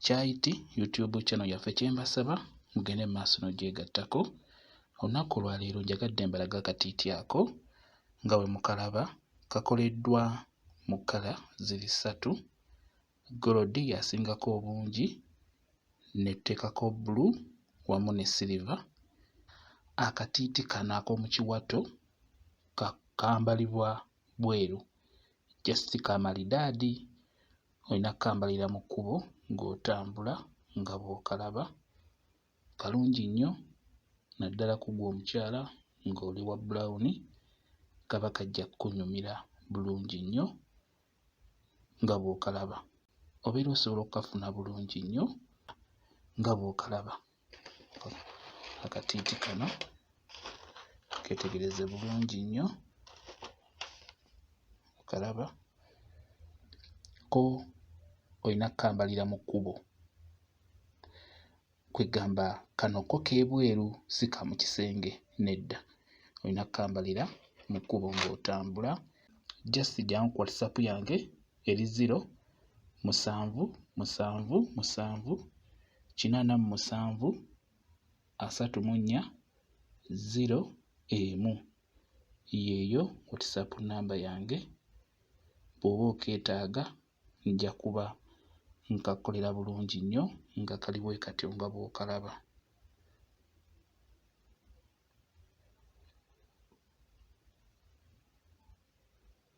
Kyayiti YouTube channel yaffe kye mbasaba mugende mu maaso n'ogyegattako. Olunaku olwaleero njagadde mbalaga akatiiti ako nga bwe mukalaba kakoleddwa mu kkala ziri ssatu, golodi y'asingako obungi ne tuteekako bbulu wamu ne siriva. Akatiiti kano ak'omu kiwato kambalibwa bweru just kamalidaadi olina kukambalira mu kkubo ng'otambula nga bw'okalaba kalungi nnyo naddala ku ggwe omukyala ng'oli wa bulawuni kaba kajja kukunyumira bulungi nnyo nga bw'okalaba obeera osobola okukafuna bulungi nnyo nga bw'okalaba. akatiiti kano ketegereze bulungi nnyo okalaba ko olina kukambalira mu kkubo kwegamba kano ko k'ebweru si ka mu kisenge nedda olina kukambalira mu kkubo ng'otambula just jjangu ku whatsapp yange eri ziro, musanvu, musanvu, musanvu, kinaana mu musanvu, asatu mu nnya, ziro, emu. Yeeyo WhatsApp nnamba yange bw'oba okeetaaga nja kuba nkakukolera bulungi nnyo nga kali bwe katyo nga bw'okalaba.